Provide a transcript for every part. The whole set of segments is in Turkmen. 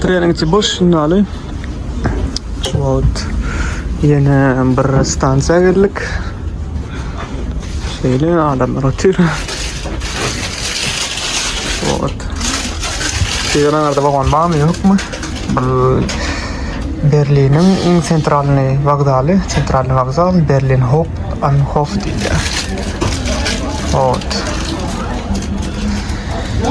Treningçi boş şundaly. Şu wagt ýene bir stansiýa geldik. Şeýle adamlar otyr. Şu wagt. Şeýleňizde wagon barmy, ýokmy? Bir Berliniň iň sentralny wokzaly, sentralny wokzal Berlin Hop an Hof diýilýär. Ot.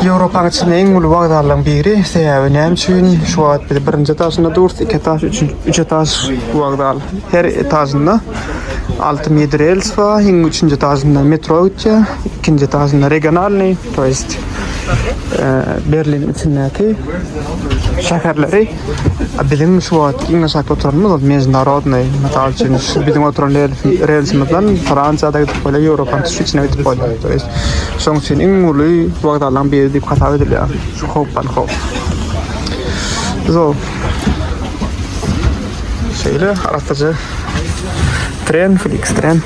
Ýewropanyň içinde iň uly wokzallaryň biri. Sebäbi näme üçin? Şu wagt biz birinji etažynda durus, iki etaž, üçünji, üç etaž wokzal. Her etažynda alty midi rels bar. Iň üçünji etažynda metro gitýär, ikinji etažynda regionalnyý, to ýest e, Berliniň içindäki şäherleri Biziň şu wagt iň aşakda oturanymyz ol mejnarodny. Mysal üçin, şu biziň oturan relsimiz-relsimiziň Fransiýada gidip bolýar, Ýewropanyň tut içine gidip bolýar. To ýest, şonuň üçin iň uly wokzallaryň biri diýip hasap edilýär. Şu howpdan howp. Zo. Şeýle arassaja tren, fliks tren.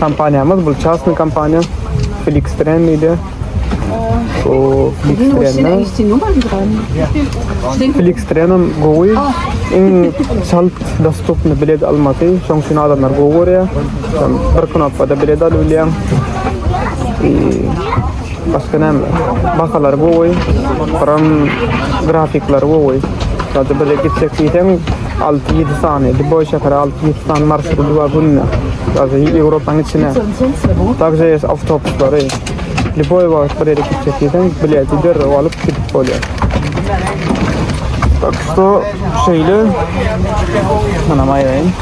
Kompaniýamyz bu çasny kompaniýa Flixtren diýdi. O Flixtren'e Flixtren'e gowy iň çalt dostupny bilet almaty. Şoň üçin adamlar gowy görýär. Bir knopkada bilet alyp bilýär. Başga näme? Bahalar gowy. Gram grafikler gowy. Sadece böyle gitsek diýseň 6-7 sany, Dubai şäheri 6-7 sany marşrut bar günde. Sadece Ýewropanyň içine. Także ýa awtobuslary. Dubai wagt bir ýere gitsek diýseň bileti derrew alyp gidip bolýar. Tak şu şeýle. Mana maýaýyn.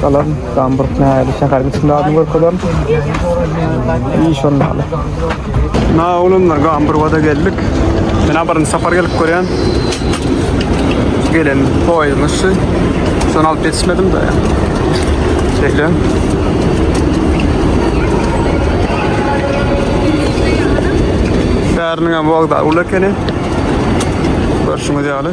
Galan Gamburg nähili şäheriň içinde adyny görkezen. İyi şonda. Na olanlar Gamburg'a da geldik. Ben abarın sapar gelip görýän. Gelen poýuň üstü. Son alyp yetişmedim de. Şeýle. Şäheriniň hem wagda uly ekeni. Görşüňiz ýaly.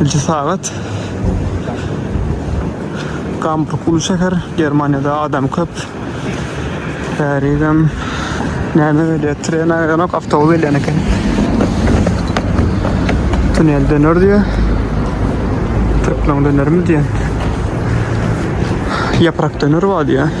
Ilki sagat Gamburg uly şäher, Germaniýada adam köp. Bärizem näme gelýär? Tren aýlanok, awtobus gelýän eken. Tunel döner diýär. Türkmen dönermi diýär. Yaprak döner bar diýär.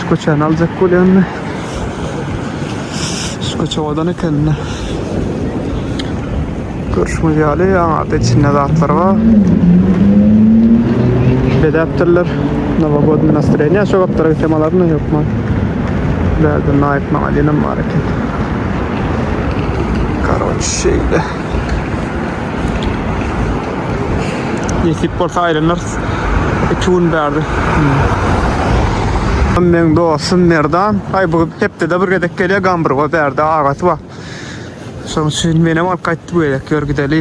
Şu köçäni aljak bolýandy. Şu köçe owadan ekende. Görüşüňiz ýaly, aňarda içinde zatlar bar. Bedäpdirler. Nowogodny nastroýeniýa şu gapdara gitsem alarmy ýokmy? Bärde naýyp maňa diýenem bar eken. Karoç şeýle. Nesip bolsa aýlanarys. Iki gün bärde. Meň dostum Merdan, aý bu hepdede bir gezek gelýär Gamburga bärde agasy bar. Şoň üçin menem alyp gaýtdy bu gezek. Ýör gideli.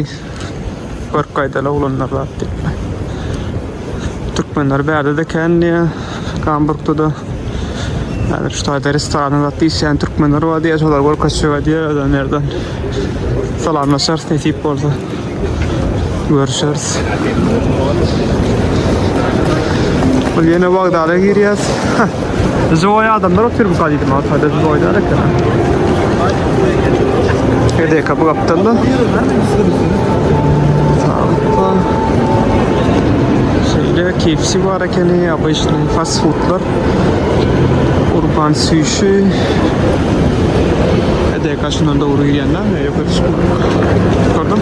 Görüp gaýdaly oglanlar zat diýip. Türkmenler bärde-de kän diýýär. Gamburgda-da Häzir şu taýda restoranda zat diýişýän türkmenler bar diýýär, şolar görkezjek edýär ölenlerden. Salamlaşarys nesip bolsa. Görüşeris. Bul ýene wagdala girýär. Joý adamlar otyr bu gadydy ma taýda joýlar eken. Hede kapy gapdalda. Sağlıkla. Şeýle kepsi bar Kelle ýagy işlän fast-fudlar, urban süýşi. Edäýk aşyndan dogry iýenler, ýokary çykmadyk. Gördüm.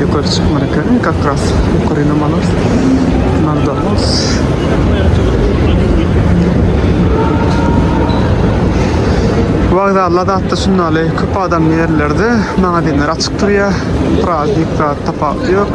Ýokary çykmadyk ekeni, как раз ýokary namalar. Mandalos. Wagzalda zatda şundaly köp adamly ýerlerde magazinler açyk durýar. Praznik zat tapawudy ýok.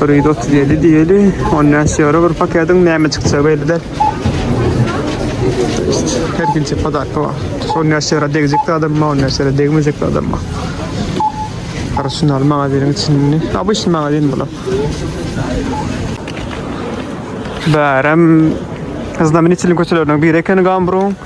Bir ýüz otuz ýedi diýeli, on bäş ýewro bir paketiň näme çykjak belli däl. Her kimse podarka bar. On bäş ýewro degjek adam bar, on bäş ýewro degmejek adam bar. Arsenal magaziniň içinde. Abyş magazin bular. Bärem Znamenitelniň köçeleriniň biri ekeni Gamburyň.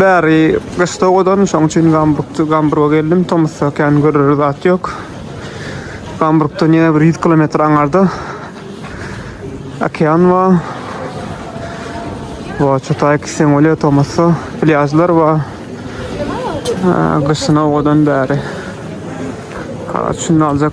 Bäri gyş sowadan, şoň üçin Gamburgda, Gamburga geldim. Tomusda kän görer zat ýok. Gamburgdan ýene bir 100 kilometr aňarda okean bar. Bu Çotay Kisenolýa Tomusda plýažlar bar. Gyşyna owadan bäri. Şunda aljak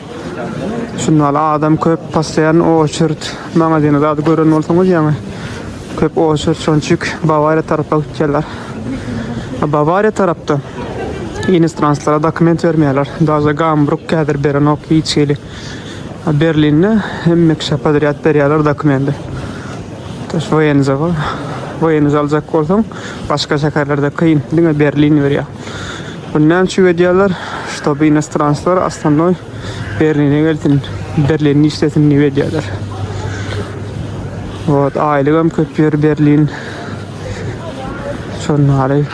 Şunda adam köp postoýan oçerd maňa diýen zady gören bolsaňyz ýaňy köp oçerd şonçik Bawariýa tarapa gitýärler. Bawariýa tarapda inostranslara dokument bermeýärler. Daže Gambruk häzir berenok hiç hili. Berlinde hemme kişä podrýad berýärler dokumenti. Daş Wenza bar. Wenza aljak bolsaň başga şäherlerde kyn diňe Berlin berýär. Bunu näme üçin edýärler? Ştoby inostranslar astanoý Berline gelsin, Berlinde işlesin diýip edýärler. Ot, aýlyk hem köp ýer Berlin. Şonary.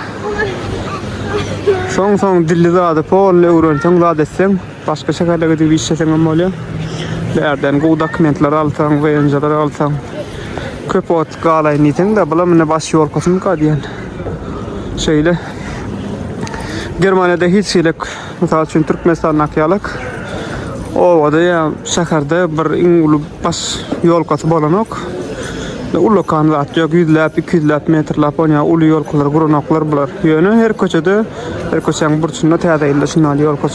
Soň soň dilli zady polny öwrenseň zat etseň Başga şäherle gidip işleseň hem bolýa. Bärden gowy dokumentler alsaň, WNJ-ler alsaň, köp wagt galaýyn diýseň-de, bulam indi baş ýolkasynka diýen. Şeýle. Germaniýada hiç hili, mysal üçin, Türkmenistandaky ýaly obada ýa şäherde bir iň uly baş ýolkasy bolanok. Ullakan zat ýok, ýüzläp, iki ýüzläp metrläp on ýa uly ýolkalar guranoklar bular. Ýöne her köçede, her köçäň burçunda Täze ýylda şuny al ýolka.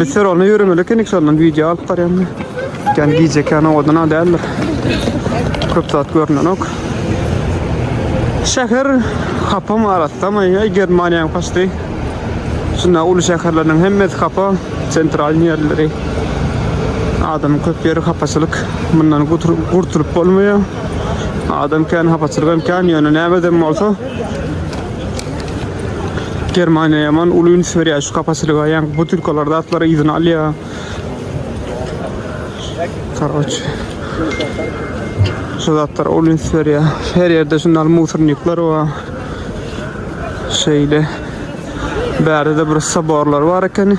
Biz şuralna yürümeli ekenik şondan video alyp barýan. Gän gije kän owadan adamlar. Köp zat görnenok. Şäher hapam arasda mı? Ey Germaniýa kaçdy. Şunda uly şäherleriniň hemmesi hapa, sentral ýerleri. Adam köp ýeri hapaçylyk. Mundan gurtulyp bolmaýar. Adam kän hapaçylyk hem kän ýöne näme dem bolsa Germaniýa ýaman uly üns berýär şu kapaçylyga. Ýaňky butylkalar zatlary yzyny alýar. Karoç. Şu zatlar uly üns berýär. Her ýerde şundan musornikler bar. Şeýle. Bärde bir soborlar bar ekeni.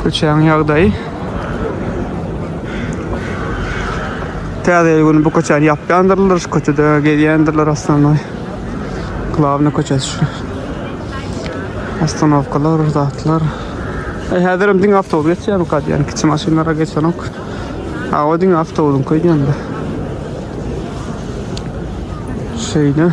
Köçäň ýagdaýy. Täze ýyl güni bu köçäni ýapýandyrlar, şu köçede gezýändirler aslynda. Glawny köçesi şu. Ostanowkalar, zatlar. E, häzir hem diňe awtobus geçýär, ýani kiçi maşynlara geçenok. Awa diňe awtobusyň köýdýändir. Şeýle.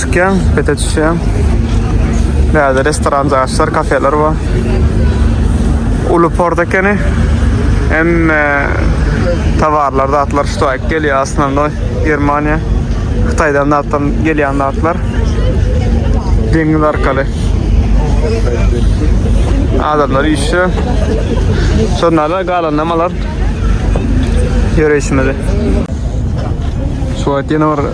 Çykýan, bete düşýän. Bärde restoran jaýlar, kafeler bar. Uly port ekeni. Hem e, towarlar, zatlar şu taýyk gelýär aslynda Germaniýa. Hytaýdan zatdan gelýän zatlar. Deňiz arkaly. Adamlar işe. Şonlara galan namalar. Ýöreýşimizi. Şu wagt ýene bir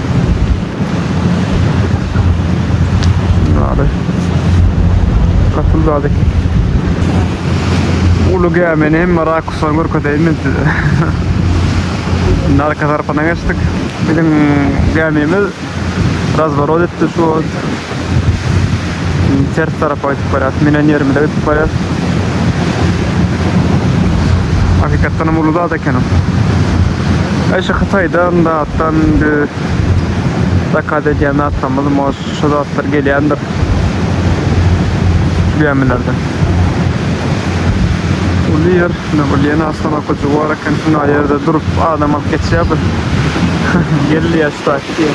Ýaly. Gatyl zat eken. Uly gämini hem rakusdan görkezeýin men size. Narka tarapyna geçdik. Biziň gämimiz razworot etdi şu Ters tarapa gidip barýas. Menen ýerimize gidip barýas. Hakykatdan hem uly zat ekeni. Ay şu Hytaýdan da atdan zakaz edýän zatlarymyz mo şu zatlar gelýändir. Şu gämilerde. Uly ýer, ne bolýan aslan okujy bar eken şunda ýerde durup adam alyp geçýär bir. Gelýär şu taýtki.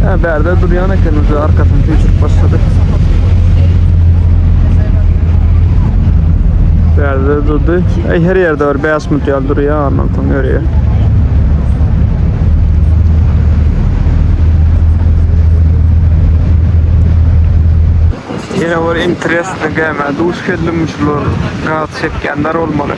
Ha, bärde durýan eken, uje arkasyny süýşürip başlady. Bärde durdy. Eý, her ýerde bir 5 minut ýaly durýar, ondan soň ýörýär. Ýene bir interesli gämä duş geldim, şular gaz çekýänler bolmaly.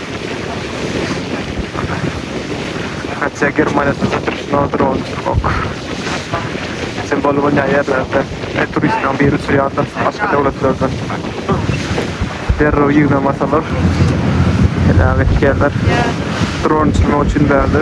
Hatja Germaniýa sözde duşuna dron uçurmak. Sen bol bolýan ýerlerde her turistden biri uçurýandyr, başga döwletlerden. Derrew ýygnamasalar, heläk etýärler. Dron uçurmak üçin bärde.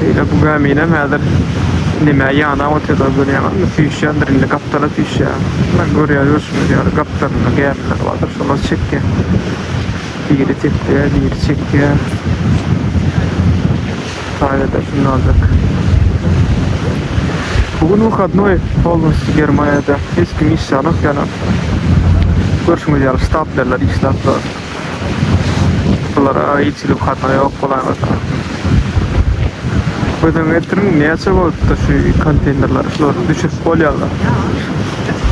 Şeýle bu gäminem häzir nämä ýanap otyrdygyny görýäňizmi? Süýşýändir indi gapdala süýşýär. Muna görýär görşüňiz ýaly gapdalynda gämiler bardyr, şolar çekýär. Biri tekýär, biri çekýär. Italiýada kim galjak? Bu gün wyhadnoý bolmyş Germaniýada hiç kim iş ýalyk ýalam. Görşüňiz ýaly ştab berler işläp dur. Bulara hiç hili wyhadnoý ýok bolaýmasa. Gözüňe getiriň näçe bolupdyr şu konteýnerler şular düşürip bolýarlar.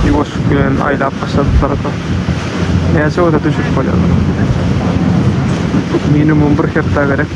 Ýuwaş bilen aýlap başladyplar da. Näçe bolsa düşürip bolýarlar. Minimum bir hepdä gerek.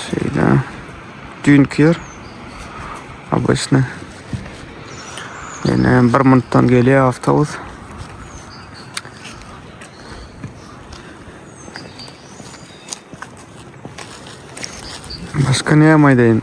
Şeýle. Düýnki ýer. Abyşny. Ýene bir minutdan gelýär awtobus. Başka ne yapmayı deyin.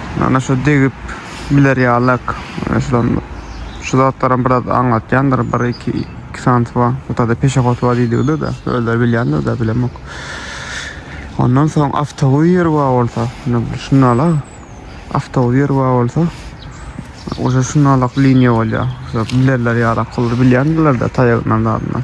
Ana şu degip biler ýalak. Şulan şu zatlaram biraz aňlatýandyr. Bir iki iki sant bar. Bu tada peşehot bar diýdigide de. Özler bilýändir de bilemok. Ondan soň awtowir bar bolsa. Şunala awtowir bar bolsa. Oja şunalak liniýa bolýar. Bilerler ýalak. Olar bilýändirler de taýagyndan zadyndan.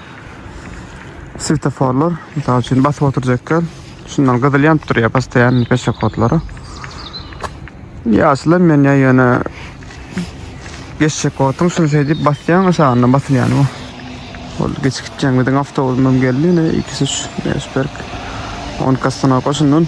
Swetoforlar, mysal üçin, basyp oturjakan, şundan gyzyl ýanyp durýar postoýanny peşehodlara. Ýaşyl hem ýanýar ýöne geçjek wagtyň şuny şeýdip basýaň, aşagyndan basylýany bu. Ol geçip gitýän biziň awtobusymyz hem geldi, ine ikisi şu Eşberg. Onuň kassana goşundan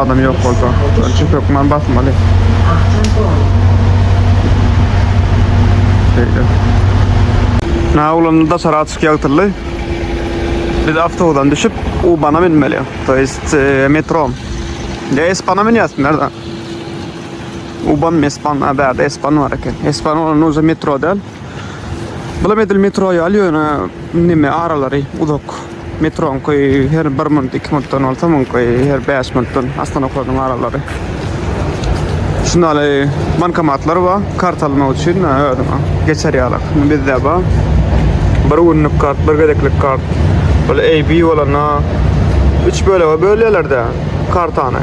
Adam ýok bolsa. Şony çift hökman basmaly. Şeýle. Na ulanyp daşary açyk ýagtyldy. Biz awtobusdan düşüp U-bana münmeli. To ýest metro. Ýa S-bana münýäs nädä? U-ban S-ban a bärde S-ban bar eken. S-ban bolanda uje metro däl. Bulam edil metro ýaly ýöne neme aralary uzak. Metroň köýi her bir minut, iki minutdan bolsa, muň köýi her bäş minutdan Astana-Okolnyň aralary. Şunda ýaly bankomatlar bar, karta almak üçin özüňe geçer ýaly. Bizde bar. Bir günlük kart, bir gezeklik kart. Ol AB bolanda üç bölege bölýärler-de kartany.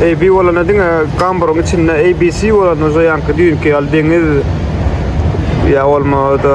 AB bolanda diňe gamburyň içinde ABC bolanda, şo ýaňky düýnki ýaly deňiz ýa bolmasa-da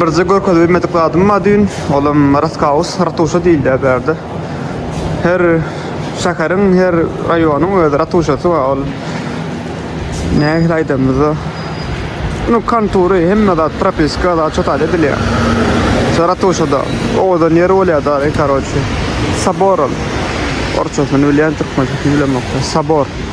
Birje görkezip bilmedik zadym bar düýn. Olam Raskaus, Ratuşa diýilýär bärde. Her şäheriň, her raýonyň öz ratuşasy bar. Ol nähili aýdanymyzda nu kontury hemme zat propiska zat çötal edilýär. Şo ratuşada owadan ýer bolýar da, karoçi. Sabor ol. Orçasyny bilýän türkmençesini bilemokda. Sabor.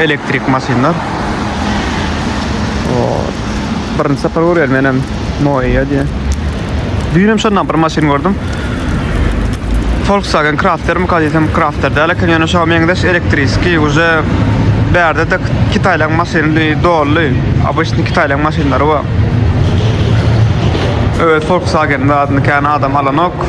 Elektrik maşynlar. O, birinci sapar görýän menem Noia diýe. Düýnem şondan bir maşyn gördüm. Volkswagen Crafter mi kadysam Crafter däl eken, ýöne şoňa meňzeş elektriski uje bärde de Kitaýlaň maşyny dolly. Obычny Kitaýlaň maşynlary bar. Öz Volkswagen adyny kän adam alanok.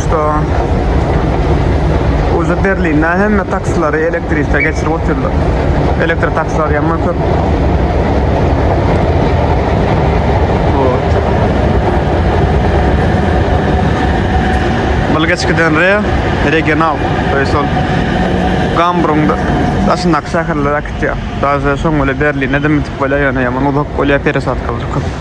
Başda uly Berlinde hemme taksilary elektrike geçirip otyrlar. Elektrik taksilary ýa köp. Bulgaçkiden re regional, to ýa sol Gambrungda daşyndaky şäherlere gitýär. Daze şoň bile Berlinde de mütip bolýar, ýöne ýaman uzak bolýar, peresadka köp.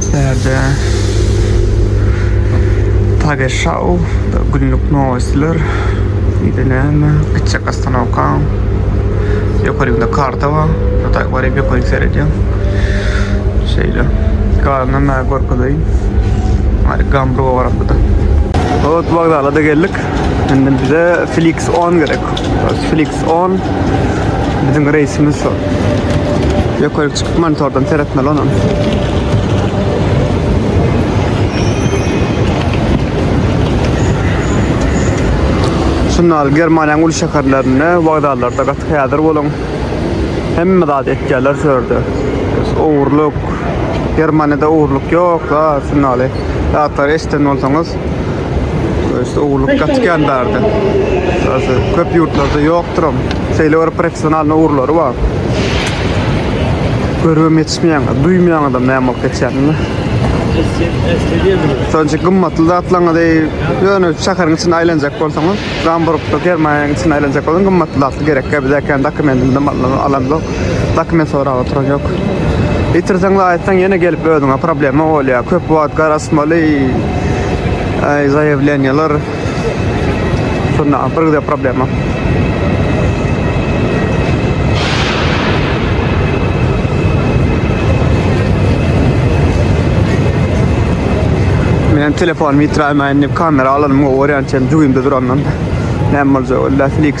Täze Tagesschau, Günlük nowostler, ýa-da näme, Gitjek ostanowka, ýokarynda karta bar, şo taýy goraýyp ýokaryk seredýän. Şeýle. Galanyny maňa görkezeýin. Hany Gambruwa barak bu-da. Hut wokzala-da geldik. Indi bize Flix on gerek. Flix 10 bizim reisimiz şu. Yukarı çıkıp monitordan seyretmeli onu. Şunlar Germaniýanyň uly şäherlerinde, wagzallarda gaty häzir boluň. Hemme zat etýärler şu ýerde. Ogurluk. Germaniýada ogurluk ýok, ha, şundaly. Zatlar eşiden bolsaňyz, Öýse ugurlyk gaty kän bärde. Öýse köp ýurtlarda ýokdur hem. Şeýle bir professional ugurlary bar. Görüp geçmeýän, duýmaýan adam näme bolup geçýänini. Sonuç gymmatly zatlaryňy deý, ýöne şäheriň içinde aýlanjak bolsaňyz, Gamburgda, Germaniýanyň içinde aýlanjak bolsaň, gymmatly zatlar gerek. Bizäkän dokumentinden alandyk. Dokument soragy oturacak. Itirseň we aýtsaň ýene gelip özüňe problema bolýar. Köp wagt garasmaly. Ay zaýewleniýalar. Şunda bir güde problema. Men telefon mitraýmaýyn diýip kamera alanymga gorýän çen jübimde durandan. Näme boljak? Illa Flix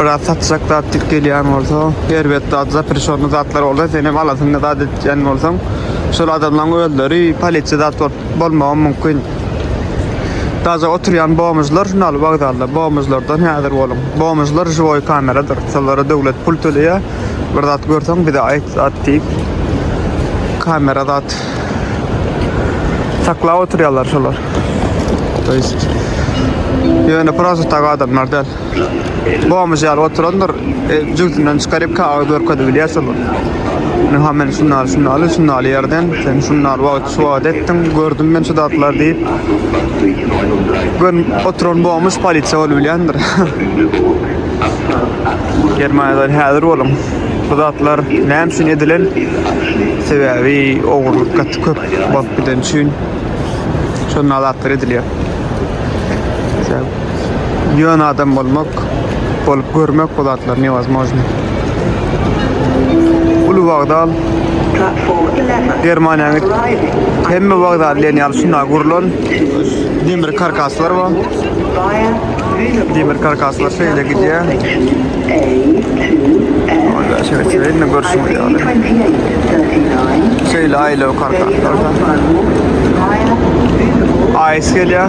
Biraz satjak zat dik gelýän bolsa, erbet zat, zaprişonly zatlar bolsa, sen hem alasyňda zat etýän bolsaň, şol adamlaryň özleri polisiýa zat bolup bolmagam mümkin. Daže oturýan bomžlar şun al wokzalda, bomžlardan häzir boluň. Bomžlar žiwoý kameradyr, şolara döwlet pul töleýär. Bir zat görseň bize aýt zat diýip. Kamera zat saklap oturýarlar şolar. To ýest ýöne prosta tak adamlar däl. Gomuş ýaly oturandyr. E, jübüsinden çykaryp kagyz görkezip bilýärse bu. Men ha men şundan şundan şundan ýerden sen şundan wagt şu wagt etdiň gördüm men şu zatlar diýip. Gün oturan gomuş polisiýa bolup bilýändir. Germaniýadan häzir boluň. Bu zatlar näme üçin edilen? Sebäbi ogurlyk gaty köp bolup giden üçin şondan zatlar edilýär. Ýöne adam bolmak, bolup görmek bu zatlar newazmojny. Uly wagdal Germaniýa git. Hemme wagdal bilen ýaly şunda gurlan demir karkaslar bar. Demir karkaslar şeýle gidýär. Onda şeýle şeýle görüşmek ýaly. Şeýle aýlaw karkaslar. Aýs gelýär.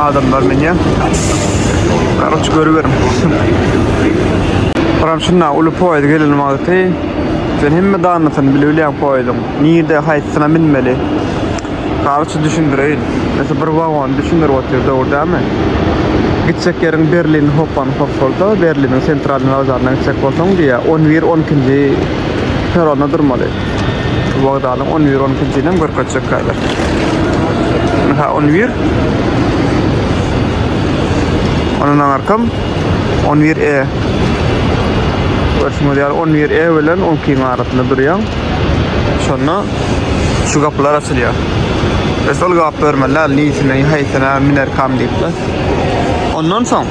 Adamlar menýär. Garaç görüberin. Buram şunda uly poýuz gelen wagty sen hemme danasyny bile bilýän poýuzyň. Nirde haýsyna minmeli? Garaç düşündireýin. Mesela bir wagon düşündirip otyr dogry dämi? Gitsek ýeriň Berlin Hopan hop bolsa, Berliniň sentralny wokzalyna gitsek bolsaň diýýär, 11-12-nji peronda durmaly. Bu wagdalyň 10 bir 12 nji ýylyny görkezjek häzir. Ynha 10 bir. Ondan aňarkam 10 bir E. Görşüňiz ýaly 10 bir E bilen 12 ýyň arasynda durýan. Şonda şu gapylar açylýar. Biz ol gap görmeli, niçin, haýsyna minerkam diýip. Ondan soň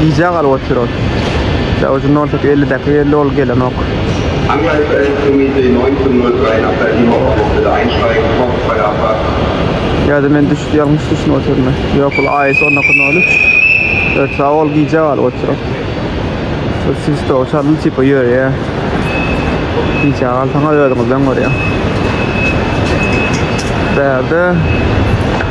Gijä galyp otyr ol. Ýa uje nol sekiz elli däki elli ol gelenok. Angleýska elektromüze Noý Summer Graýnapda Ýuwa Pogostada Aýnştaýn Pop Parappa. Ýa-da men düş ýalňyş düşünip otyryn. Ýok ol AS on iki nol üç. Ötsa ol gijä galyp otyr ol. Ol siz to çalyny tipa ýöreýä. Gijä galsaňyz özüňizden görýäň. Bärde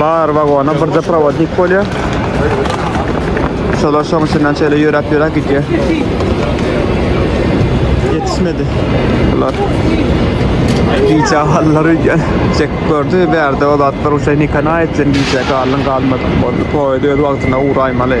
Bar wagona birde prowodnik bolýar. Şolar şoň içinden şeýle ýöräp-ýöräp gidýär. Ýetişmedi. Bular gijä galdylar öýdýän. Çek gördi, bärde o zatlar uşa nikana etsin gijä galdyň galmadyň boldy. Poýda öz wagtyna ugraýmaly.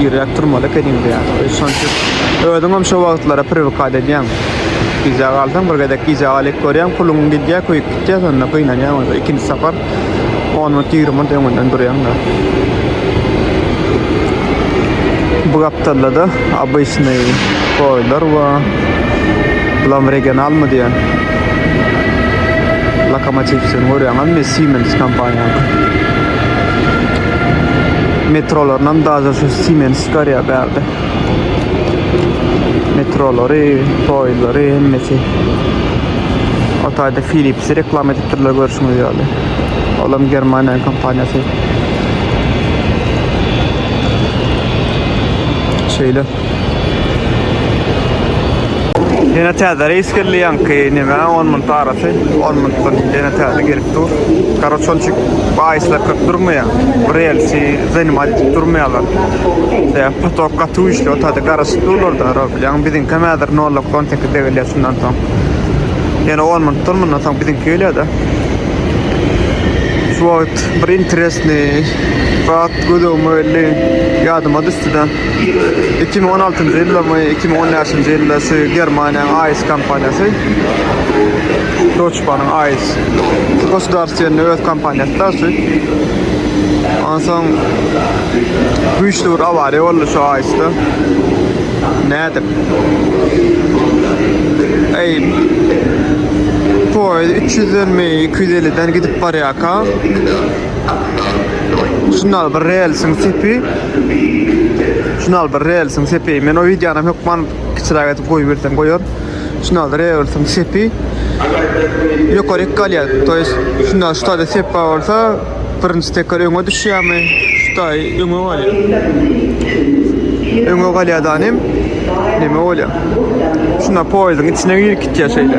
Girýäk turmaly ekeniň diýýär. Şonça özüňem şo wagtlara priwkat edýäň. Gijä galsaň bir gezek gijä galyp görýäň, puluň gidýär, köýüp gitýär, şonda gynanýaň özüň. Ikinji sapar on minut, ýigrimi minut öňünden durýaň-da. Bu gapdalda-da obyçnyý goýlar bar. Bulam regionalmy diýýän. Lokomotiw seni görýäňizmi? Siemens kompaniýanyň. Metrolarynam daja şu Siemens çykarýar bärde. Metrolary, poýuzlary hemmesi. O taýda Philips reklama edip durlar görşüňiz ýaly. Olam Germaniýanyň kompaniýasy. Şeýle. Ýene täze reýs geldi ýaňky näme 10 minut arasy 10 minutdan ýene täze gelip dur. Karoç onçik baýyslar köp durmaýar. Bir elsi zanymat edip durmaýarlar. Şeýle potok gaty güýçli otady garaşyp durlarda ro bilýän biziňki hem häzir 0.18 de gelýär şundan soň. Ýene 10 minut dur mundan soň biziňki gelýär-de. Şu wagt bir interesni zat gözegime geldi. Ýadyma düşdi-de. Iki müň on altynjy ýylmy, iki müň on bäşinji ýyldasy Germaniýanyň AIS kompaniýasy. Deutsche Bahn-yň AIS. Gosudarstwenny öz kompaniýasy da şu. Onsoň güýçli bir awariýa boldy şu AIS-de. Nädip? Eý, poýez 300-den mi, 250-den gidip barýarka, Şunal bir relsiň sepi. Şunal bir relsiň sepi. Men o videonam hökman kiçiräk edip goýup bersem goýar. Şunal relsiň sepi. Ýokaryk galýar. To ýest şunda şutada sep bar bolsa birinji teker öňe düşýärmi? Şuta öňe galýar. Öňe galýar danym. Neme bolýar? Şunda poýzdyň içine girip gitýär şeýle.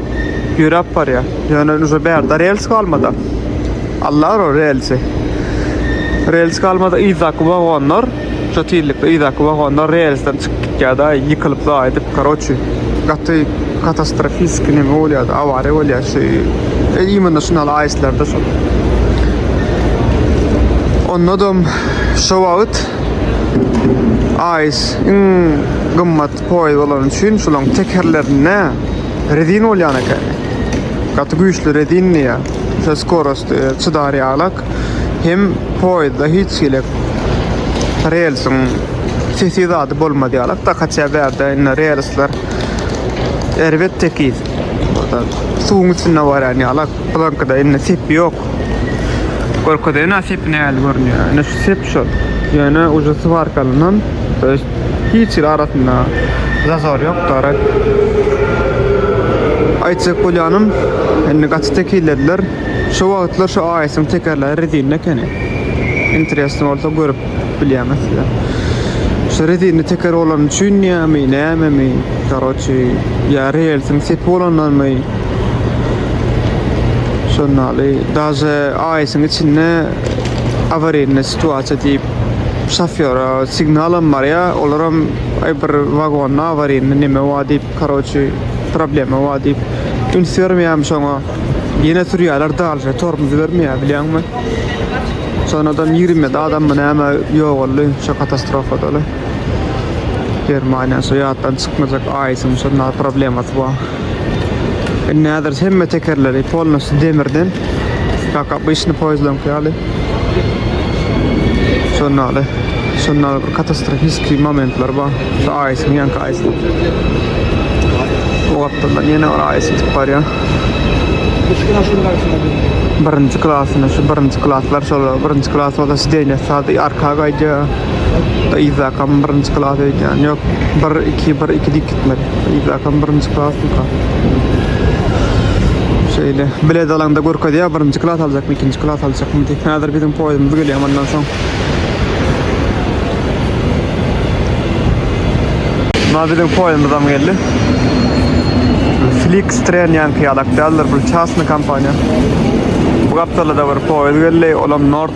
Ýöräp barýar. Ýöne uza bärde rels galmada. Allar o relsi. Rels galmada yzdaky wagonlar, şu tizlikde yzdaky wagonlar relsden çykyp gitýärdi, aý ýykylyp zaýdyp, karoçi. Gaty katastrofist neme bolýardy, awariýa bolýar şu. E, imенно şu aýslarda şu. Onda da şu wagt aýs iň gymmat Poýuz bolany üçin şolaň tekerlerinde rezin bolýan eken. Gaty güýçli rezin diýýär. Şo skorost çydar ýalak. Hem poýuzda hiç hili relsiň sesi zady bolmaz ýalak. Da kaçýa bärde indi relsler erbet tekiz. Suwuň üstünde barýan ýalak. Bulankada indi sepi ýok. Görkezene sepi nähili görünýär. Indi şu sep şol. Ýöne ucu swarkalyndan, Hiç hili arasynda zazor ýok darak. Aýtjak bolýanym, indi gaty tekizlediler. Şu wagtlar şu AS-iň tekerleri rezinli ekeni. Interesno bolsa görüp bilýäňiz size. Şu rezinli teker bolany üçin ýämi, nämemi, karoçi, ýa relsiň sepi bolandanmy, şonda ýaly, daže AS-iň içinde awariýnne situasiýa diýip şofýora signalam barýa olaram aý bir wagonda awaryny neme bar diýip karoçi problema bar diýip üns bermeýäm şoňa ýene sürýärler dalşa tormuz bermeýär bilýäňmi şonda adam ýigrimi adam mı näme ýogaldy şo katastrofadaly germaniýa şo ýatdan çykmajak aýsyň şonda problemasy bar Indi häzir hemme tekerleri polnosy demirden. Kaka işini poýzlaň ýaly. Şonda ýaly. Şonda bir katastrofiskiý momentler bar. Şu aýysyň ýanky aýysy. Bu gapdaldan ýene bir aýys gidip barýar. Birinji klasyny, şu birinji klaslar şolar. Birinji klas bolsa sidenýa sady arka gaýdýar. Yzakam birinji klas öýdýän. Ýok, 1-2, 1-2 diýip gitmeli. Yzakam birinji klassyka. Şeýle bilet alanda görkezýär birinji klas aljakmy, ikinji klas aljakmy diýip. Häzir biziň poýdumyz gelýär mundan soň. Mundan biziň poýdumyzam geldi. Flix tren ýanky ýalak däldir, bu çasny kompaniýa. Bu gapdalda bir poýuz geldi, olam Nord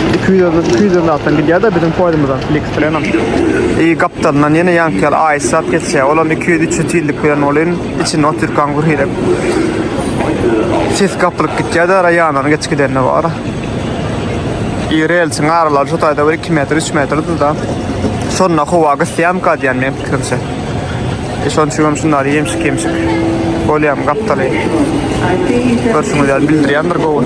200-den zatdan gidýär-de biziň poýzymyzam Fliks bilenem. I gapdalyndan ýene ýaňky ýaly aýyşsap geçýär. Olam iki-ýüz-üç-ýüz tizlik bilen welin, içinde otyrkaň gürhirek ses gapylyp gitýär-de, raýonlaryň geç gideni bar. I relsiň aralary şu taýda bir iki metr, üç metrdir-de. Şonda howa gysýamyka diýýän, meniň pikirimçe. E şonuň üçin hem şunlar ýemşik ýemşik. Bolýam gapdaly. Görşüňiz ýaly bildirýändir gowy.